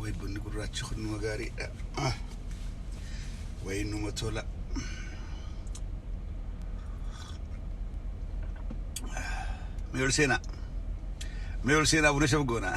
Way bunni gurraachi kun nama gaariidha. Way nama tola. Mee ol seenaa. Mee ol seenaa buna shaf goonaa.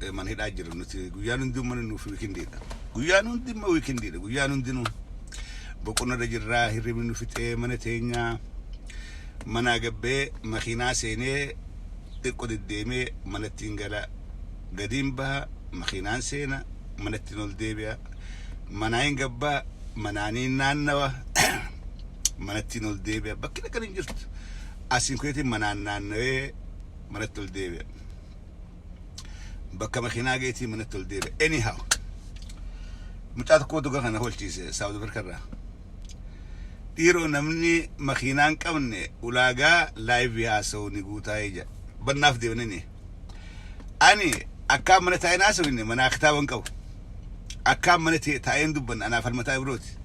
eh, mana hidhaa jiru nuti guyyaan hundi mana nuuf wiikindiidha guyyaan hundi immoo wiikindiidha guyyaan hundinuu boqonnarra jirraa hirribni nu fixee mana teenyaa manaa gabbee makiinaa seenee xiqqo deddeemee manattiin gala gadiin baha makiinaan seena manattiin ol deebi'a manaa hin gabbaa manaaniin naannawa manattiin ol deebi'a bakki dhaqan hin jirtu asiin kuyeetiin manaan naannawee manatti ol deebi'a bakka makiinaa geetii manatti ol deebi'e. Anyhow. Mucaa tokko dhugaa kana holchiise Saawud Afrikaa irraa. Dhiiroo namni makiinaa hin qabne ulaagaa laayivii haasa'u ni guutaa ija. Bannaaf deemnini. Ani akkaan mana taa'in haasa'u inni manaa kitaaba hin qabu. Akkaan mana tee taa'een dubbanna anaa Falmataa Ibrooti.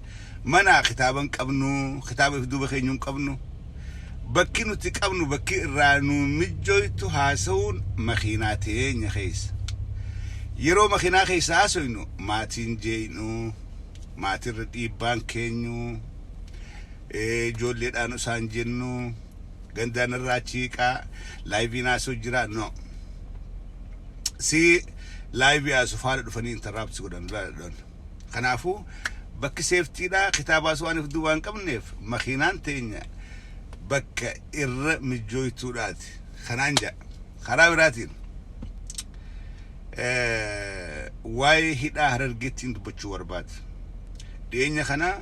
Manaa kitaaba hin qabnu, kitaaba if duuba keenyu hin qabnu. Bakki nuti qabnu bakki irraa nuu mijjooytu haasawuun makiinaa teenya keessa. Yeroo makiinaa keessa haasoynu maatii hin jeeynu, maatii irra dhiibbaan keenyu, ijoolleedhaan usaan jennu. Gandaan irraa achi hiiqaa laayiviin haasoo jira no. Si laayivii haasoo faana dhufanii interrupt si godhan laadhan. Kanaafuu bakki seeftiidha kitaabaa waan of duubaan qabneef makiinaan teenya bakka irra mijjooytuudhaati. Kanaan ja'a. Karaa biraatiin eh, waa'ee hidhaa harargeettiin dubbachuu barbaade. Dhiyeenya kana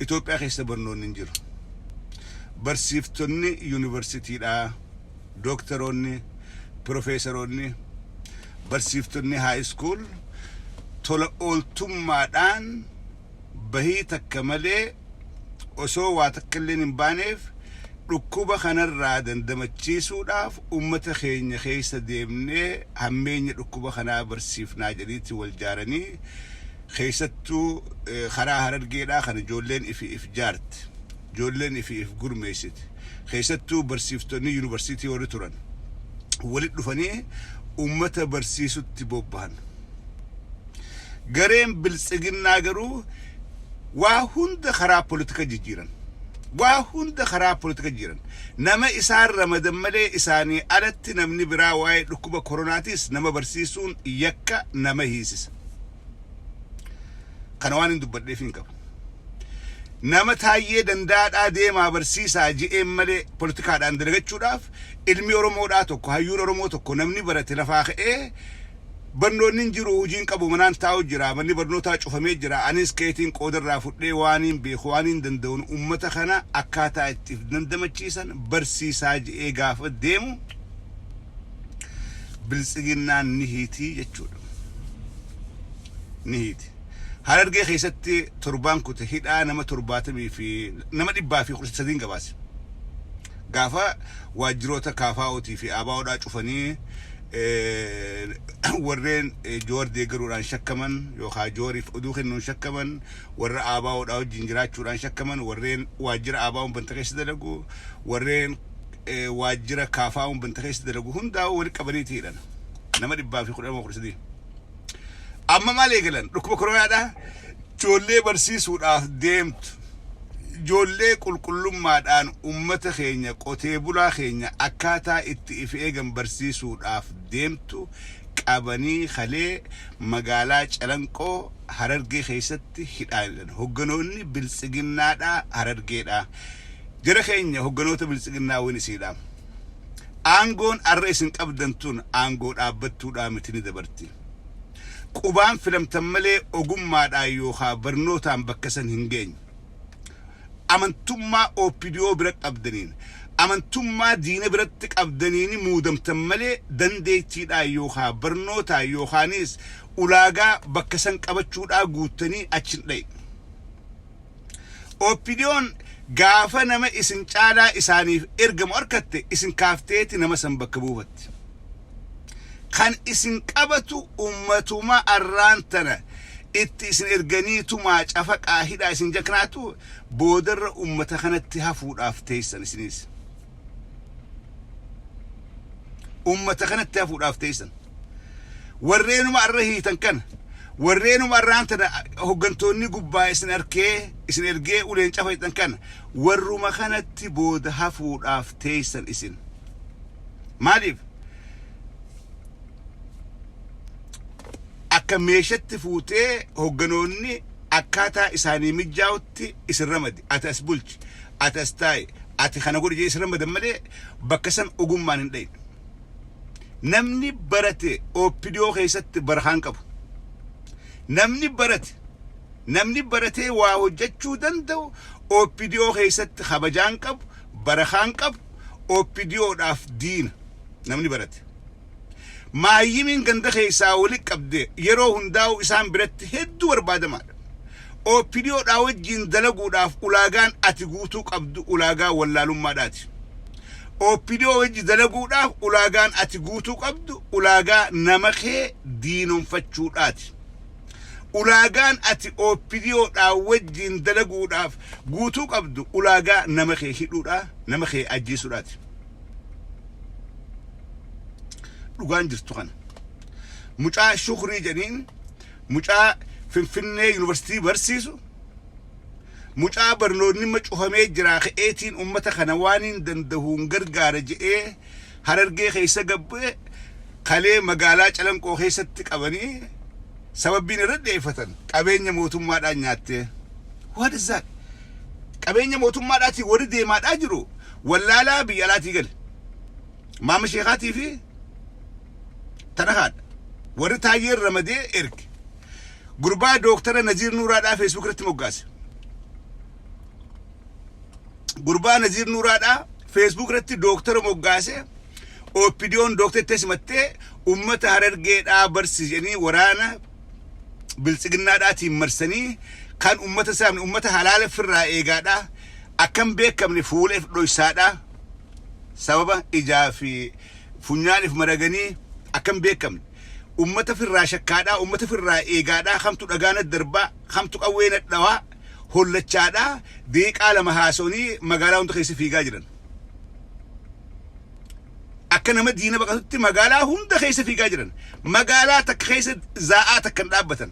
Itoophiyaa keessa barnoonni hin jiru. Barsiiftonni yunivarsitiidhaa, dooktaroonni, pirofeesaroonni, barsiiftonni haayiskuul tola ooltummaadhaan bahii takka malee osoo waa takkalleen hin baaneef dhukkuba kanarraa dandamachiisuudhaaf ummata keenya keessa deemnee hammeenya dhukkuba kanaa barsiifnaa jedhiiti wal jaaranii keessattuu karaa Harargeedhaa kan ijoolleen ifi if jaarti. ijoolleen ifi if gurmeessiti. Keessattuu barsiiftonni yunivarsiitii warri turan walitti dhufanii uummata barsiisutti bobbahan. Gareen Biltsiginnaa garuu waa hunda karaa politika jijjiiran. Waa hunda karaa politika jijjiiran. Nama isaan ramadan malee isaanii alatti namni biraa waa'ee dhukkuba koronaatiis nama barsiisuun yakka nama hiisisa. Kana waan hin dubbadheef hin qabu. Nama taayyee dandaadhaa deemaa barsiisaa je'een malee politikaadhaan dalagachuudhaaf ilmi Oromoodhaa tokko hayyuun Oromoo tokko namni barate lafaa ka'ee barnoonni hin jiru hojiin qabu manaan taa'u jira manni barnootaa cufamee jira anis keetiin qoodarraa fudhee waaniin beeku waaniin danda'uun ummata kana akkaataa itti if dandamachiisan barsiisaa je'ee gaafa deemu biltsiginnaan ni hiitii jechuudha. ni hiiti. Harargee keessatti torbaan kute hidhaa nama torbaatamii fi nama dhibbaa fi kudha sadiin gabaase. Gaafa waajjiroota KFO'tii fi ABO'dhaa cufanii eh, warreen eh, Joowar deeggaruudhaan shakkaman yookaan Joowariif oduu kennuun shakkaman warra ABO'dhaa wajjin jiraachuudhaan shakkaman warreen waajjira ABO'n banta keessa dalagu warreen waajjira kaafaa'uun banta keessa dalagu hundaa walitti qabaniiti hidhan. Nama dhibbaa fi kudha lama kudha sadii. Amma maal eegalan? Dhukkuba koronaadhaa ijoollee barsiisuudhaaf deemtu. Ijoollee qulqullummaadhaan uummata keenya qotee bulaa keenya akkaataa itti if eegan barsiisuudhaaf deemtu qabanii kalee magaalaa Calanqoo Harargee keessatti hidhaan hidhan. Hogganoonni biltsiginnaadhaa Harargeedhaa. Jara keenya hogganoota Biltsiginnaa win isii dhaam. Aangoon arra isin qabdan tun aangoo dhaabbattuudhaa miti ni dabarti. Qubaan filamtan malee ogummaadhaan yookaa barnootaan bakka san hin geenyu. Amantummaa OPDO bira qabdaniin, amantummaa diina biratti qabdaniini muudamtan malee dandeettiidhaan yookaa barnootaan yookaaniis ulaagaa bakka san qabachuudhaa guuttanii achi hin dhayxu. OPDOn gaafa nama isin caalaa isaaniif ergamu harkatte isin kaafteeti nama san bakka buufatti. Kan isin qabatu ummatuma arraan tana itti isin erganii tumaa cafaqaa hidhaa isin jaknaatu boodarra ummata kanatti hafuudhaaf teessan isiniis. ummata kanatti hafuudhaaf teessan warreenuma arra hiitan kana warreenuma arraan tana hoggantoonni gubbaa isin arkee isin ergee uleen cafayxan kana warruma kanatti booda hafuudhaaf teessan isin maaliif akka meeshatti fuutee hogganoonni akkaataa isaanii mijjaa'utti isin ramadi. Ati as bulchi, ati as taa'i, ati kana godhi jedhee isin ramadan malee bakka san ogummaan hin dhayne. Namni barate OPDO keessatti barakaa hin qabu. Namni barate namni baratee waa hojjechuu danda'u OPDO keessatti kabajaa hin qabu, barakaa hin qabu, OPDOdhaaf diina namni barate. Maayyimiin ganda keessaa walitti qabdee yeroo hundaa'uu isaan biratti hedduu barbaadamaadha. OPDO dhaa wajjiin dalaguudhaaf ulaagaan ati guutuu qabdu ulaagaa wallaalummaadhaati. OPDO wajji dalaguudhaaf ulaagaan ati guutuu qabdu ulaagaa nama kee diinomfachuudhaati. Ulaagaan ati OPDO dhaa wajjiin dalaguudhaaf guutuu qabdu ulaagaa nama kee hidhuudhaa, nama kee ajjeesuudhaati. dhugaan jirtu kana mucaa shukrii jedhiin mucaa finfinnee yuunivarsiitii barsiisu mucaa barnoonni ma cufamee jiraa ka'eetiin ummata kana waan hin dandahuun gargaara je'ee harargee keessa gabbee kalee magaalaa calanqoo keessatti qabanii sababbiin irra dheeffatan qabeenya mootummaadhaan nyaattee what is that qabeenya mootummaadhaatiin warri deemaadhaa jiru wallaalaa biyya alaatii gale. Maama Sheekaatii fi tana haadha. Warri taayyeen ramadee erge. Gurbaa dooktara Naziir Nuuraadhaa Feesbuuk irratti moggaase. Gurbaa Naziir Nuuraadhaa Feesbuuk irratti dooktara moggaase. Oppidiyoon dooktettee simattee uummata harargeedhaa barsiisanii waraana biltsiginnaadhaatiin marsanii kan uummata saamne uummata halaala firraa eegaadhaa Akka hin beekamne fuuleef dhoysaadha. Sababa ijaa fi funyaaniif maraganii akka hin beekamne. Ummata firraa shakkaadha, ummata firraa eegaadha, kamtu dhagaa natti darbaa, kamtu qawwee natti dhawaa hollachaadha. Daqiiqaa lama haasa'anii magaalaa hunda keessa fiigaa jiran. Akka nama diina baqatutti magaalaa hunda keessa fiigaa jiran. Magaalaa takka keessa zaa'aa takka hin dhaabbatan.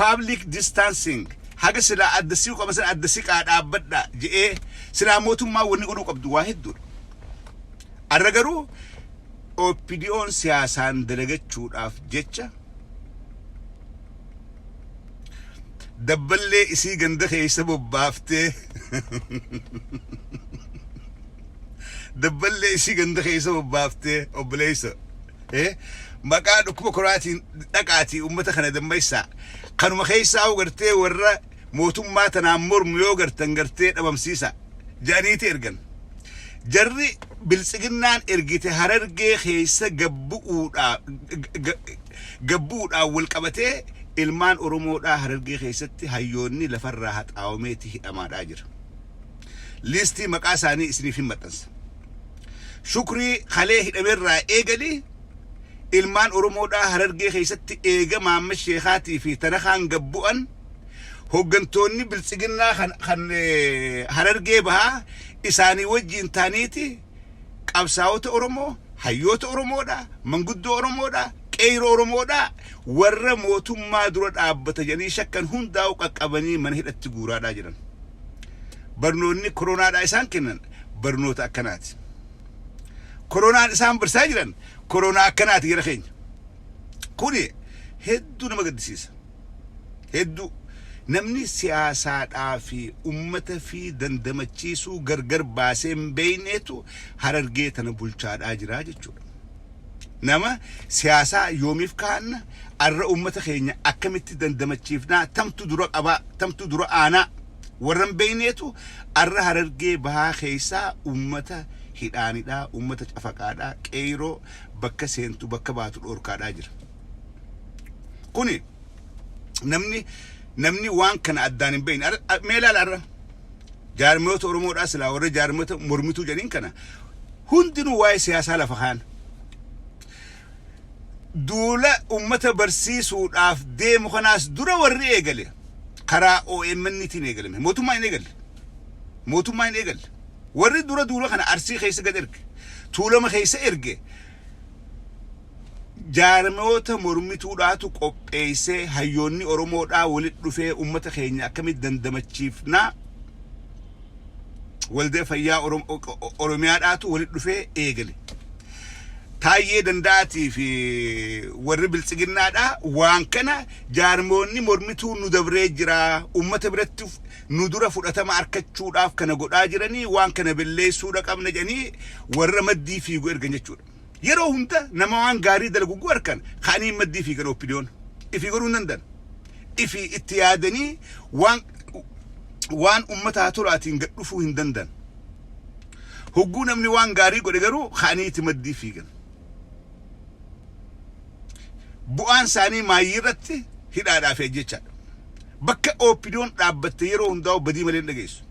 Public distancing haga silaa adda siqu qaban sana adda siqaa dhaabbadhaa je'ee silaa mootummaa wanni godhuu qabdu waa hedduudha. Arra garuu OPDO'n siyaasaan dalagachuudhaaf jecha dabballee isii ganda keessa bobbaaftee dabballee isii ganda keessa bobbaaftee obboleessa Eh, maqaa dhukkuba koraatiin dhaqaatii uummata kana dammaessaa kanuma keessaa hoo gartee warra mootummaa tanaan mormu yoo gartan gartee dhabamsiisa jedhaniiti ergan jarri biltsiginnaan ergite harargee keessa gabbu'uudhaa gabbu'uudhaan wal qabatee ilmaan oromoodhaa harargee keessatti hayyoonni lafarraa haxaawameeti hidhamaadhaa jira liistii maqaa isaanii isiniif hin maxxansa Shukrii kalee hidhame irraa eegali ilmaan Oromoodhaa Harargee keessatti eega Mahammad Sheekaatii fi Tarakaan gad bu'an hoggantoonni biltsiginnaa kan, kan Harargee bahaa isaanii wajjiin taaniiti qabsaa'ota Oromoo, hayyoota Oromoodhaa, manguddoo Oromoodhaa, qeeyroo Oromoodhaa warra mootummaa dura dhaabbata jedhanii shakkan hundaa'u qaqqabanii mana hidhatti guuraadhaa jiran. Barnoonni koronaadhaa isaan kennan barnoota akkanaati. Koronaan isaan barsaa jiran koronaa akkanaati gara keenya. Kuni hedduu nama gaddisiisa. Hedduu namni siyaasaadhaa fi ummata fi dandamachiisuu gargar baasee hin beeyneetu harargee tana bulchaadhaa jiraa jechuudha. Nama siyaasaa yoomiif kaanna arra ummata keenya akkamitti dandamachiifnaa tamtu dura qabaa tamtu dura aanaa Warra hin beekneetu arra Harargee bahaa keessaa uummata hidhaanidhaa, uummata cafaqaadhaa, qeeyroo bakka seentu bakka baatu dhoorkaadhaa jira. Kuni namni namni waan kana addaan hin beekne arra- a- mee ilaala arra jaarmiyoota Oromoodhaa silaa warra jaarmiyoota mormituu jedhaniin kana hundinuu waa'ee siyaasaa lafa kaan. Duula ummata barsiisuudhaaf deemu kanaas dura warri eegale karaa omn tiin eegalame. Mootummaan hin eegalle. Mootummaan hin eegalle. Warri dura duula kana Arsii keessa gad erge, Tuulama keessa erge jaarmayoota mormituudhaatu qopheessee hayyoonni Oromoodhaa walitti dhufee ummata keenya akkamitti dandamachiifnaa, Waldaa Fayyaa Oromiyaadhaatu walitti dhufee eegale. Taayyee Danda'aatii fi warri biltsiginnaadhaa waan kana jaarmoonni mormituu nu dabree jira, uummata biratti nu dura fudhatama arkachuudhaaf kana godhaa jiranii waan kana belleessuudha qabna jedhanii warra maddii fiigu ergan jechuudha. Yeroo hunda nama waan gaarii dalagu gu arkan ka'anii maddii fiigan OPDOn. Ifii godhuu hin dandan. Ifii itti yaadanii waan waan ummataa tolaatiin gad dhufuu hin dandan. Hogguu namni waan gaarii godhe garuu ka'anii itti maddii fiigan. Bu'aan isaanii maayyii irratti hidhaadhaa fi ajjechaadha. Bakka OPDOn dhaabbatte yeroo hundaa'u badii malee hin dhageessu.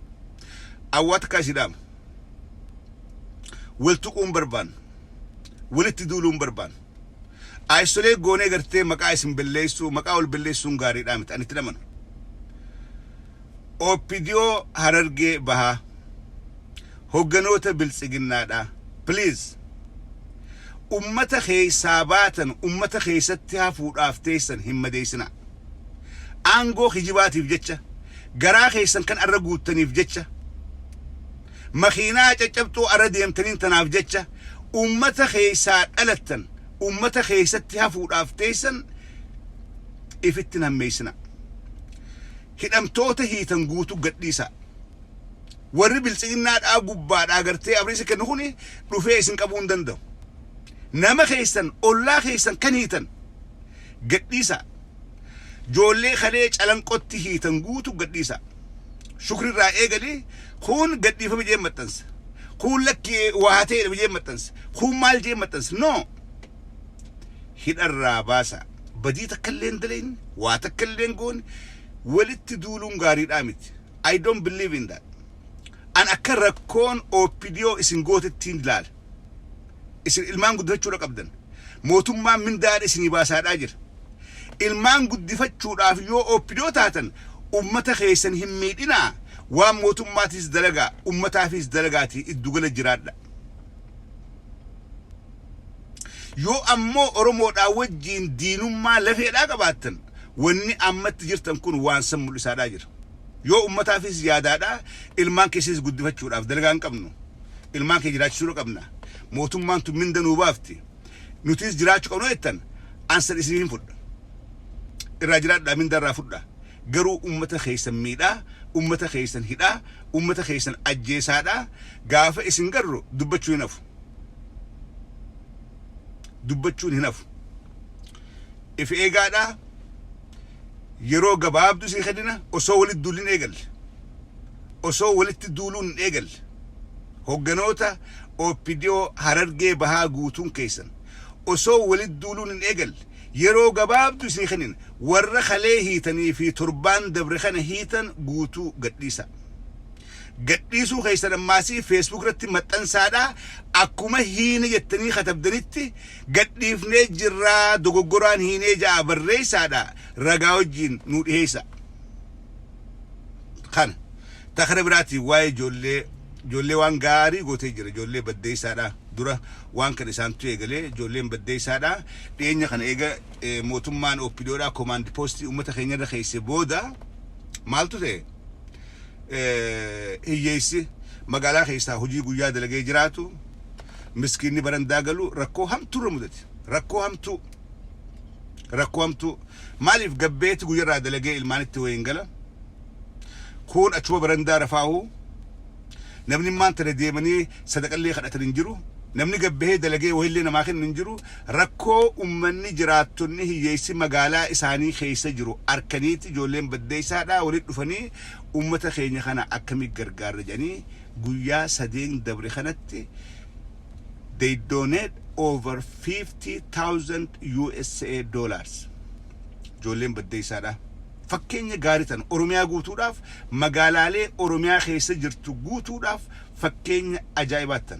Awwaa takkaa isii dhaama. wal tuquu hin barbaannu walitti duuluu hin barbaannu ayisolee goonee gartee maqaa isin belleessuu maqaa wal belleessuun gaariidhaa miti ani itti namanu OPDO harargee bahaa hogganoota biltsiginnaadhaa please ummata keessaa baatan ummata keessatti hafuudhaaf teessan hin madeessinaa aangoo kijibaatiif jecha garaa keessan kan arra guuttaniif jecha makiinaa caccabxoo arra deemtaniin tanaaf jecha ummata keessaa dhalattan ummata keessatti hafuudhaaf teessan ifittin hammeessina hidhamtoota hiitan guutuu gadhiisaa warri biltsiginnaa dhaa gubbaa dhaa gartee abriisa kennu kun dhufee isin qabuu hin danda'u nama keessan ollaa keessan kan hiitan Gadhiisaa. Joollee kalee calanqotti hiitan guutu gadhiisaa. Shukri irraa eegali kuun gadhiifame jee maxxansa. Kuun lakki waa hateedhame jee maxxansa. Kuun maal jee maxxansa. No! Hidharraa baasaa. Badii takkallee hin dalayne, waa takkallee hin goone, walitti duuluun gaariidhaa miti. I don't believe in that. An akka rakkoon OPDO isin gootettiin ilaala. Isin ilmaan guddifachuudha qabdan. Mootummaan mindaadha isinii baasaadhaa jira. Ilmaan guddifachuudhaaf yoo OPDO taatan ummata keessan hin miidhinaa waan mootummaatiis dalagaa ummataafiis dalagaatii iddugala jiraadha. Yoo ammoo Oromoodhaa wajjiin diinummaa lafeedhaa qabaattan wanni ammatti jirtan kun waan san mul'isaadhaa jira. Yoo ummataafis yaadaadha, ilmaan keessas guddifachuudhaaf dalagaa hin qabnu. Ilmaan keenya jiraachisuudha qabna. Mootummaan tun minda nuu baafti. Nutiis jiraachu qabna yoo jettan an san isiniif hin fudha. Irraa jiraadhaa minda irraa fudha. Garuu ummata keessan miidhaa, ummata keessan hidhaa, ummata keessan ajjeesaadha. Gaafa isin garru dubbachuun hin hafu. Dubbachuun hin hafu. If eegaadhaa. Yeroo gabaabduu sii kennina osoo walitti duulli hin eegalle. Osoo walitti duuluun hin eegalle. Hogganoota OPDO Harargee Bahaa guutuun keessan osoo walitti duuluun hin eegalle yeroo gabaabduu isinii kennina. Warra kalee hiitanii fi torbaan dabre kana hiitan guutuu gadhiisaa. Gadhiisuu keessan ammaasii Facebook irratti maxxansaadhaa akkuma hiine jettanii katabdanitti Gadhiifnee jirraa dogoggoraan hiinee ja'a barreeysaadha ragaa wajjiin nuu dhiheeysaa. Kana. Ta kara biraatiin waa'ee ijoollee ijoollee waan gaarii gootee jira ijoollee baddeeysaadha dura waan kana isaantu eegalee ijoolleen baddeeysaadha dhiyeenya kana eega mootummaan OPDOdhaa komaand poostii uummata keenya irra keeyse booda maaltu ta'e hiyyeeysi magaalaa keeysaa hojii guyyaa dalagee jiraatu Miskiinni barandaa galu rakkoo hamtuu irra mudate. Rakkoo hamtuu. Rakkoo hamtuu. Maaliif gabbeeti guyyarraa dalagee ilmaanitti wayiin gala. Kuun achuma barandaa rafaahu. Namni immaan tana deemanii sadaqallee kadhatan hin jiru. Namni gabbahee dalagee wayillee namaa kennu hin jiru. Rakkoo ummanni jiraattonni hiyyeessi magaalaa isaanii keessa jiru arkaniiti ijoolleen baddeessaadhaa walitti dhufanii ummata keenya kana akkamii gargaarra jedhanii guyyaa sadeen dabre kanatti they donate over 50,000 USA dollars. Ijoolleen baddeessaadha. Fakkeenya gaarii tana Oromiyaa guutuudhaaf magaalaalee Oromiyaa keessa jirtu guutuudhaaf fakkeenya ajaa'ibaattan.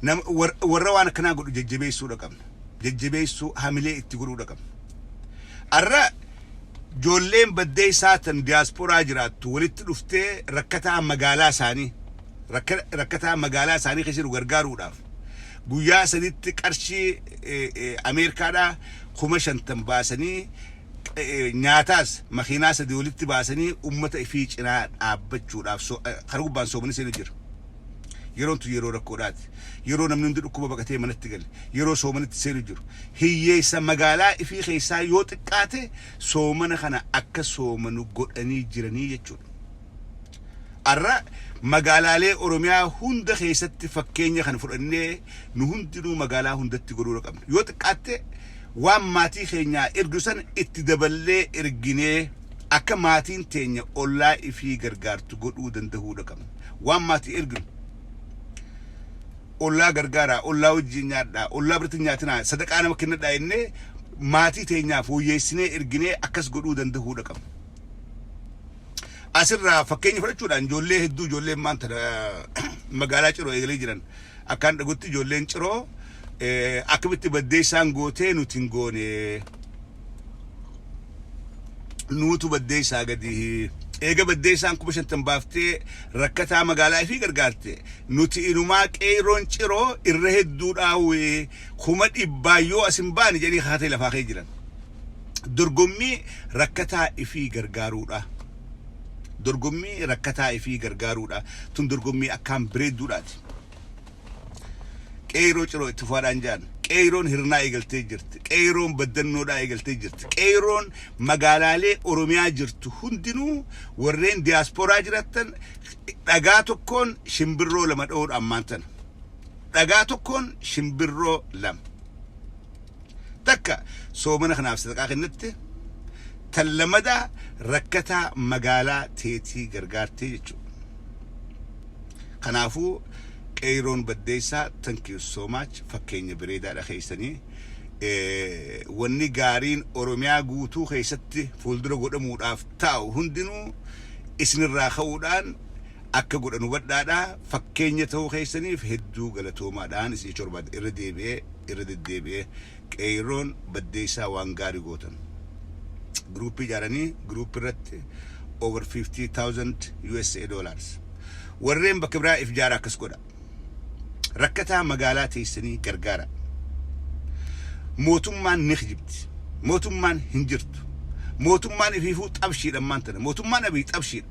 Nama- war- Warra waan akkanaa godhu jajjabeessuudha qabna. Jajjabeessuu hamilee itti godhuudha qabna. Arra Ijoolleen Baddeessaa tan Diyaasporaa jiraattu walitti dhuftee rakkataa magaalaa isaanii rakkataa magaalaa isaanii keessa jiru gargaaruudhaaf guyyaa sadiitti qarshii Ameerikaadhaa kuma shantam baasanii nyaataas makiinaa sadii walitti baasanii ummata ifii cinaa dhaabbachuudhaaf karaa gubbaan soomanii seenuu jira. Yeroon tun yeroo rakkoodhaati. Yeroo namni hundi dhukkuba baqatee manatti gale, yeroo soomanitti seenu jiru. Hiyyeessa magaalaa ifii keessaa yoo xiqqaate soomana kana akka soomanu godhanii jiranii jechuudha. Ar'a magaalaalee Oromiyaa hunda keessatti fakkeenya kana fudhannee nu hundinuu magaalaa hundatti godhuudha qabna. Yoo xiqqaatte waan maatii keenyaa ergnu san itti daballee erginee akka maatiin teenya ollaa ifii gargaartu godhuu dandahuudha qabna. waan maati erginu ollaa gargaaraa ollaa wajjin nyaadhaa ollaa birratti nyaatinaa sadaqaa nama kennadhaa jennee maatii teenyaa fooyyeessinee erginee akkas godhuu danda'uudha qabna. Asirraa fakkeenya fudhachuudhaan ijoollee hedduu ijoolleen maanta magaalaa ciroo eegalee jiran akkaan dhagutti ijoolleen ciroo akkamitti baddeessaan gootee nuti hin goonee. nuutu baddeessaa gadi eega baddeessaan kuma shantan baaftee rakkataa magaalaa ifii gargaarte nuti inumaa qeeyroon ciroo irra hedduu dhaawee kuma dhibbaa yoo as hin baane jedhanii kakatee lafaa kee jiran dorgommii rakkataa ifii gargaaruudha dorgommii rakkataa ifii gargaaruudha tun dorgommii akkaan bireedduudhaati Qeeyroo Ciroo itti fufaa dhaan jaan. Qeeyroon Hirnaa eegaltee jirti. Qeeyroon Baddannoo dhaa eegaltee jirti. Qeeyroon magaalaalee Oromiyaa jirtu hundinuu warreen Diyaaspooraa jirattan dhagaa tokkoon shimbirroo lama dhawuu dha ammaan tana. Dhagaa tokkoon shimbirroo lama. Takka soomana kanaaf sadaqaa kennatte, tan lamadaa rakkataa magaalaa teetii gargaartee jechuudha. Kanaafuu Qeeyroon Baddeessaa thank you so much fakkeenya bireedaadha keessanii. Wanni gaariin Oromiyaa guutuu keessatti fuuldura godhamuudhaaf taa'u hundinuu isinirraa ka'uudhaan akka godhan hubadhaadha. Fakkeenya ta'uu keessaniif hedduu galatoomaa dhaan isinicha barbaada. Irra deebi'ee, irra deddeebi'ee Qeeyroon Baddeessaa waan gaarii gootan. Group ijaaranii group irratti over 50,000 usa dollars. Warreen bakka biraa if jaara akkas godha. Rakkataa magaalaa teessanii gargaara. Mootummaan ni kijibdi. Mootummaan hin jirtu. Mootummaan ifiifuu xabshiidha ammaan tana. Mootummaan Abiy xabshiidha.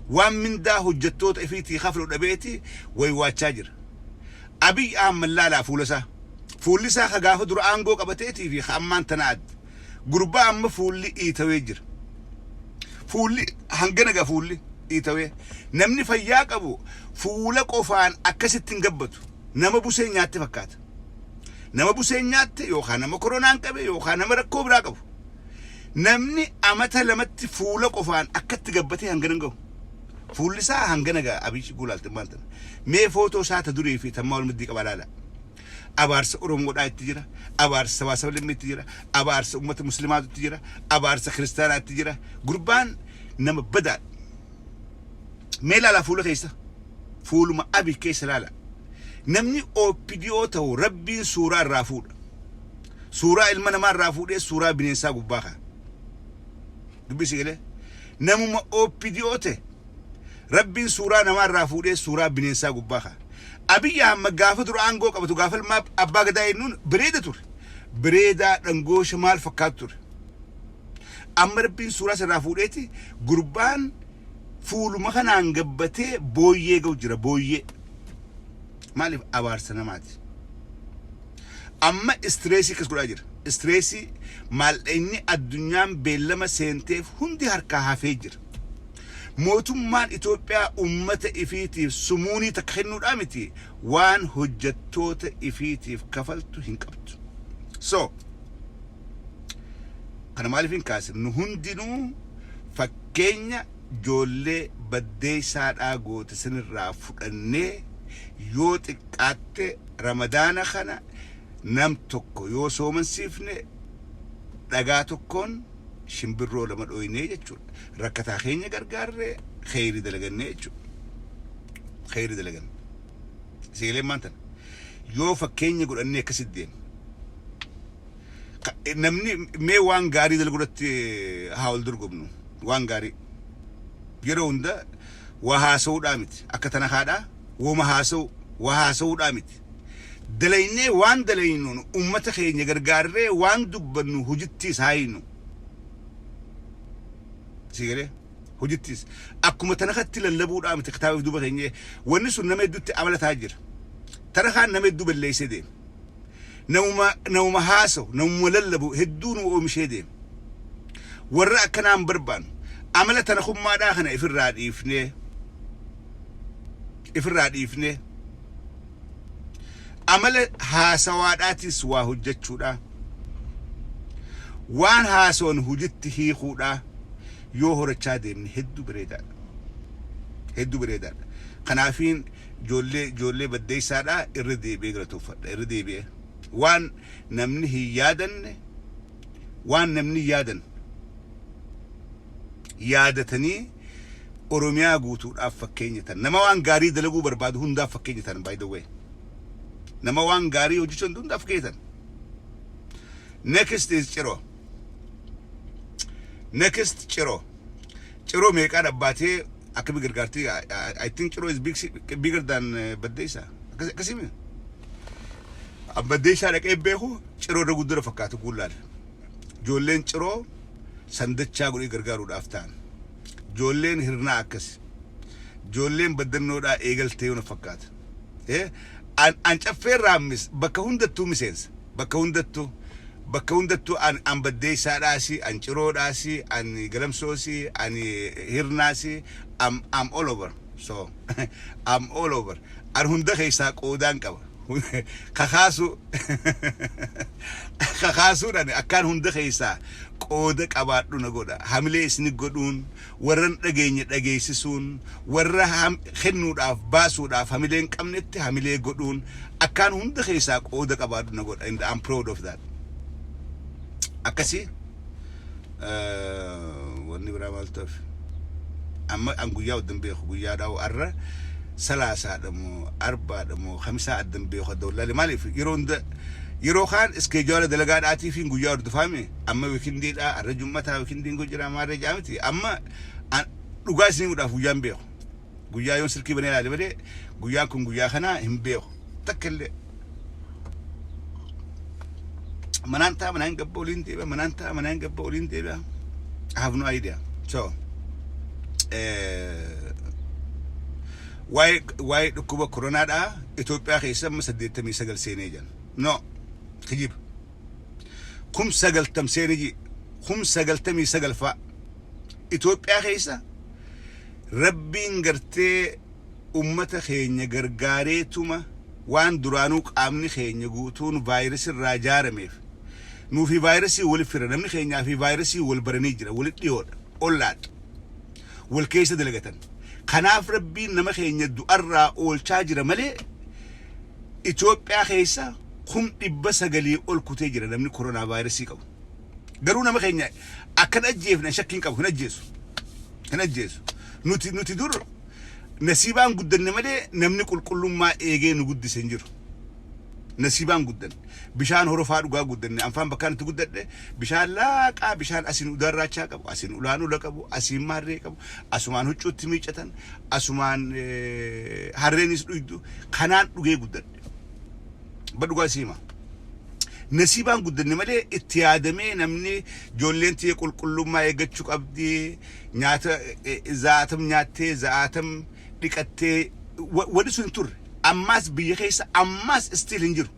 waan mindaa hojjattoota ifiitii kaflu dhabeeti waywaachaa jira. Abiy Ahmad laalaa fuulasaa. Fuullisaa ka gaafa dura aangoo qabateetii fi ka ammaan tanaa adda. Gurbaa amma fuulli iitawee jira. Fuulli hangana ga fuulli iitawee. Namni fayyaa qabu fuula qofaan akkasitti hin gabbatu. Nama busee nyaatte fakkaata. Nama buseen nyaatte yookaan nama koronaan qabe yookaan nama rakkoo biraa qabu. Namni amata lamatti fuula qofaan akkatti gabbatee hangana hin gahu. Fuulli isaa hangana gaha Abiy yoo ilaaltan maal tana. Mee footoo isaa ta durii fi tammaa wal maddii qabaa ilaalaa. Abaarsa Oromoodhaa itti jira, abaarsa sabaa saba lammii itti jira, abaarsa uummata muslimaatu itti jira, abaarsa kiristaanaa itti jira. Gurbaan nama badaadha. Mee ilaalaa fuula keessa. Fuuluma Abiy keessa ilaalaa. Namni OPDO ta'u rabbiin suuraa irraa fuudha. Suuraa ilma namaa irraa fuudhee suuraa bineensaa gubbaa kaa'a. Dubbii si galee? Namuma OPDO ta'e Rabbiin suuraa namaa irraa fuudhee suuraa bineensaa gubbaa kaa'a. Abiy Ahmad gaafa dura aangoo qabatu gaafa ilmaa abbaa gadaa eennuun bareeda ture. Bareedaa dhangoosha maal fakkaatu ture. Amma Rabbiin suuraa sirraa fuudheeti gurbaan fuuluma kanaan gabbatee booyyee ga'u jira booyyee. Maaliif abaarsa namaati. Amma istireesii akkas godhaa jira. Istireesii maallaqni addunyaan beellama seenteef hundi harkaa hafee jira. Mootummaan Itoophiyaa uummata ifiitiif sumuunii takka kennuudhaa miti waan hojjettoota ifiitiif kafaltu hin qabdu. So, kana maaliif hin kaase? Nu hundinuu fakkeenya Ijoollee baddeessaadhaa goote isinirraa fudhannee yoo xiqqaatte ramadaana kana nam tokko yoo soomansiifne dhagaa tokkoon shimbirroo lama dhooynee jechuudha. Rakkataa keenya gargaarree kheyrii dalagannee jechuudha. Kheyrii dalaganne. Siigaleen maan tana. Yoo fakkeenya godhannee akkasitti deemne. Ka- Namni mee waan gaarii dalaguu irratti haa wal dorgomnu. Waan gaarii. Yeroo hunda waa haasa'uudhaa miti. Akka tana kaadhaa wooma haasa'u waa haasa'uudhaa miti. Dalaynee waan dalaynuun uummata keenya gargaarree waan dubbannu hojittiis haa hiinu. Sii galee? Hojittiis. Akkuma tana katti lallabuudhaa miti kitaaba fi duuba keenya. Wanni sun nama hedduutti amala ta'aa jira. Tana kaan nama hedduu balleessee deema. Namuma, namuma haasa'u, namuma lallabu hedduu nu oomishee deema. Warra akkanaa hin barbaannu. Amala tanakummaadhaa kana ifirraa dhiifnee, ifirraa dhiifnee, amala haasawaadhaatis waa hojjechuudhaa, waan haasawan hojitti hiikuudhaa yoo horachaa deemne hedduu bareedaadha. Hedduu bareedaadha. Kanaafiin Ijoollee ijoollee baddeessaadha irra deebi'ee galatoofadha irra deebi'ee waan namni hin yaadanne waan namni hin yaadan yaadatanii oromiyaa guutuudhaaf fakkeenya tan nama waan gaarii dalaguu barbaadu hundaaf fakkeenya tan by the way nama waan gaarii hojjechuu danda'u hundaaf fakkeenya tan next is ciroo Next Ciro. Ciro meeqaa dhabbaatee akkami gargaartii? I, I, I think Ciro is big, bigger than uh, Baddeessa. Akkas- Akkasimi. An Baddeessaa dhaqee beeku Ciro irra guddina fakkaatu guullaal. Ijoolleen Ciro sandachaa godhee gargaaruudhaaf ta'an. Ijoolleen hirnaa akkas. Ijoolleen baddannoodhaa eegaltee yoo na fakkaata. An an caffee raammis bakka hundattuu miseensa bakka hundattuu bakka hundattuu an an baddeessaadhaasi an ciroodhaasi an galamsoosi an hirnaasi am am all over so am all over an hunda keessaa qoodaan qaba kakaasuu kakaasuun ani akkaan hunda keessaa qooda qabaadhu na godha hamilee isni godhuun Warra hin dhageenye dhageessisuun, warra kennuudhaaf, baasuudhaaf hamilee hin qabnetti hamilee godhuun akkaan hunda keessaa qooda qabaadhu na godha and I'm proud of that. Akkasi wanni biraa maaltu hafe? Amma an guyyaa adda hin beeku guyyaa dhaa'u arra salaasaadha moo arbaadha moo kamisaa adda hin beeku adda wallaalee maaliif yeroo hunda yeroo kaan iskeejuwaala dalagaadhaatii fi guyyaa hordofaame amma wikindiidha arra jummataa wikindiin kun jira maarree ja'a miti amma an- dhugaa isin himuudhaaf guyyaa hin beeku guyyaa yoon silkii banee ilaale malee guyyaan kun guyyaa kanaa hin beeku takka illee manaan ta'a manaan gabba oliin deebi'a manaan ta'a manaan gabba oliin deebi'a I have no idea so eh, waa'ee waa'ee dhukkuba koronaadhaa Itoophiyaa keessa amma 89 seenee jiran no kijiba kum sagaltam seeniji kum sagaltamii sagal faa Itoophiyaa keessa rabbiin gartee ummata keenya gargaareetuma waan duraanuu qaamni keenya guutuun vaayirasii irraa jaarameef nuu fi vaayirasii wal fira namni keenyaa fi vaayirasii wal baranii jira wal dhiyoodha ollaadha wal keessa dalagatan kanaaf rabbiin nama keenya du'arraa oolchaa jira malee Itoophiyaa keessa kum 900 ol kutee jira namni koronaavaayirasii qabu. Garuu nama keenya akka hin ajjeefne an shakkii hin qabu. Hin ajjeesu. Hin ajjeesu. Nuti nuti dur nasiibaan guddanne malee namni qulqullummaa eegee nu guddise hin jiru. Nasiibaan guddanne. Bishaan horofaa dhugaa guddanne. Anfaan bakkaan itti guddadhe bishaan laaqaa bishaan asiin udaarraachaa qabu, asiin ulaan ula qabu, asiin maarree qabu, Asumaan huccuutti miiccatan, asumaan harreenis dhuydu, kanaan dhugee guddadhe. Abba dhugaa si hima. Nasiibaan guddanne malee itti yaadamee namni ijoolleen tiyya qulqullummaa eeggachuu qabdi, nyaata za'aatam nyaattee, za'aatam dhiqattee, wani sun hin turre. Ammaas biyya keessa ammaas still hin jiru.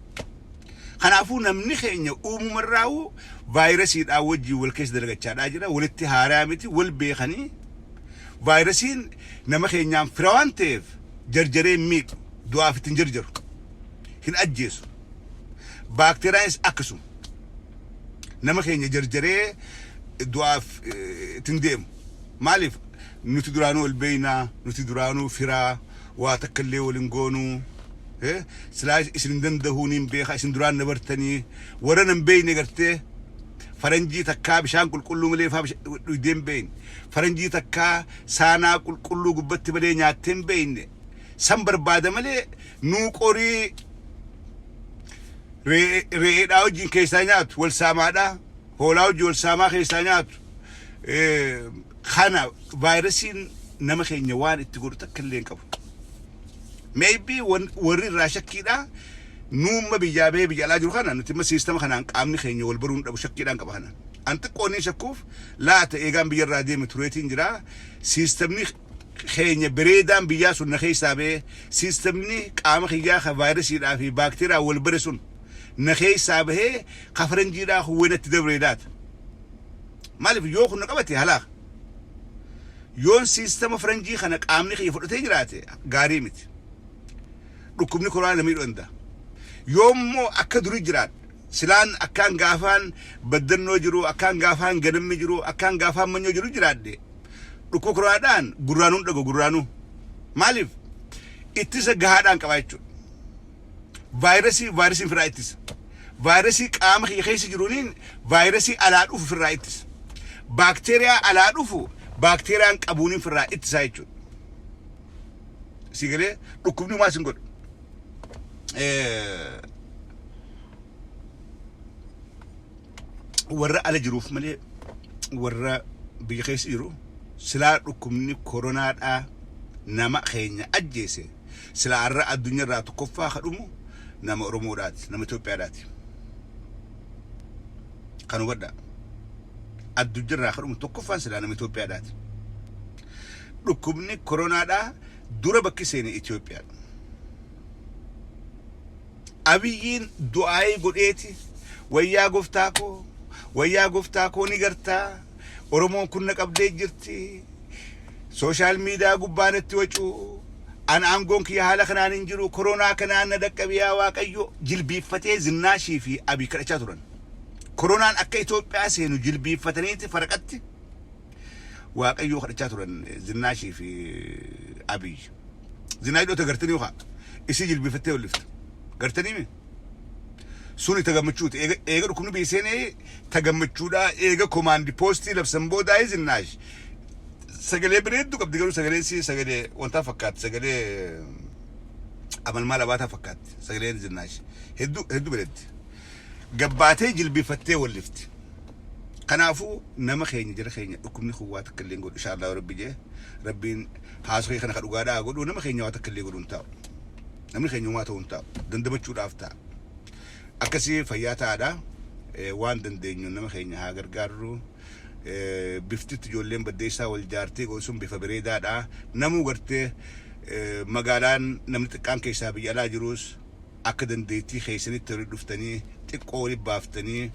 Kanaafuu namni keenya uumumarraahuu vaayirasiidhaa wajjin wal keessa dalagachaadhaa jira. Walitti haaraa miti, wal beekanii vaayirasiin nama keenyaan fira waan ta'eef jarjaree hin miidhu, du'aaf itti hin jarjaru, hin ajjeesu. Baakteeriyaanis akkasuma nama keenya jarjaree du'aaf itti hin deemu. Maaliif? Nuti duraanuu wal beekna, nuti duraanuu fira. waa takka illee wal hin goonu eh, silaa isin hin dandahuu niin beeka isin duraan na bartanii warra nan beeyne gartee faranjii takkaa bishaan qulqulluu malee faa bisha- dhuydee hin beeyne faranjii takkaa saanaa qulqulluu gubbatti malee nyaattee hin beeyne san barbaada malee nuu qorii re'ee- re'eedhaa wajjin keessaa nyaatu wal saamaadhaa hoolaa wajjin wal saamaa keessaa nyaatu Eh, Kana vaayirasiin nama keenya waan itti godhu takka illee hin qabu. Maybe wan- warri irraa shakkiidhaa nuumma biyyaa bahee biyya alaa jiru kana nuti imma siistama kanaan qaamni keenya wal baruun dhabu shakkiidhaan qaba kana. An xiqqoo inni shakkuuf laata eegaan biyya irraa deeme tureetiin jira. Siistamni keenya bireedaan biyyaa sun na keessaa bahee siistamni qaama kiyyaa kan vaayirasiidhaa fi baakteeriyaa wal bare sun na keessaa bahee kafaranjiidhaa huwwinatti dabreedaata. Maaliif yoo kun na qabate halaaka. Yoon siistama faranjii kana qaamni kiyya fudhatee jiraate gaarii miti. Dhukkubni koraa na miidhuu danda'a. Yoo immoo akka durii jiraadhe silaan akkaan gaafaan baddannoo jiru, akkaan gaafaan ganammi jiru, akkaan gaafaan manyoo jiru jiraadhe dhukkuba koraadhaan gurraanuun dhagu gurraanuu. Maaliif ittisa gahaadhaan qabaa jechuudha. Vaayirasii Vaayirasii ofirraa ittisa. Vaayirasii qaama kiyya keessa jiruuniin vaayirasii alaa dhufu ofirraa ittisa. Baakteeriyaa alaa dhufu baakteeriyaan qabuuniin ofirraa ittisaa jechuudha. Sii galee dhukkubni homaa sin godhu. Eh, warra ala jiruuf malee warra biyya keessa jiru silaa dhukkubni koronaadhaa nama keenya ajjeese Silaa arra addunyarraa tokkoffaa ka dhumu nama Oromoodhaati, nama Itoophiyaadhaati. Kan hubadhaa. Addunyarraa ka dhumu tokkoffaan silaa nama Itoophiyaadhaati. Dhukkubni koronaadhaa dura bakki seene Itoophiyaadha. Abiyyiin du'aayii godheeti wayyaa goftaa koo, wayyaa goftaa koo ni gartaa, Oromoon kun na qabdee jirti, Social media gubbaa natti wacuu An aangoon kiyya haala kanaan hin jiru koronaa kanaan na dhaqqabe yaa waaqayyo jilbiiffatee Zinnaashii fi Abiy kadhachaa turan. Koronaan akka Itoophiyaa seenu jilbiiffataniiti faraqatti waaqayyoo kadhachaa turan Zinnaashii fi Abiy. Zinaash dhota gartanii yokaa isii jilbiiffattee ol'iftu. Gartanii mee? Suni ta gammachuuti. Eega, eega dhukkubni biyya seenee ta gammachuudhaa. Eega komaandi poostii labsan boodaayii Zinnaash sagalee bareedduu qabdi garuu sagaleen isii sagalee wantaa fakkaatti. Sagalee amalmaal abaataa fakkaatti. Sagaleen Zinnaash hedduu hedduu bareeddi. Gabbaatee jilbifattee wallifti. Kanaafuu nama keenya jara keenya dhukkubni kun waa takka illee hin godhu ishaallahu rabbi jee rabbiin haasoo kee kana ka dhugaadhaa haa godhu nama keenya waa takka illee godhu hin taa'u. Namni keenya homaa ta'uu hin taa'u. Dandamachuudhaaf ta'a. Akkasii fayyaa ta'aadha. Waan dandeenyu nama keenya haa gargaarru. Biftitti ijoolleen baddeessaa wal jaartee godhu sun bifa bareedaadha. Namuu gartee magaalaan namni xiqqaan keessaa biyya alaa jiruus akka dandeettii keessanitti walitti dhuftanii xiqqoo walitti baaftanii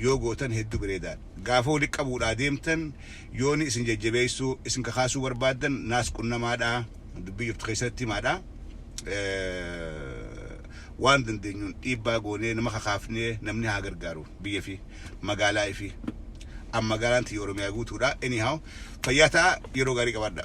yoo gootan hedduu bareedaadha. Gaafa walitti qabuudhaa deemtan yooni isin jajjabeessuu, isin kakaasuu barbaaddan naas qunnamaadha. dubbii jirtu keessatti himaadha. Waan dandeenyuun dhiibbaa goonee nama kakaafnee namni haa gargaaru biyya fi magaalaa ifi. An magaalaan tiyya Oromiyaa guutuudha. Anyhow fayyaa ta'a yeroo gaarii qabaadha.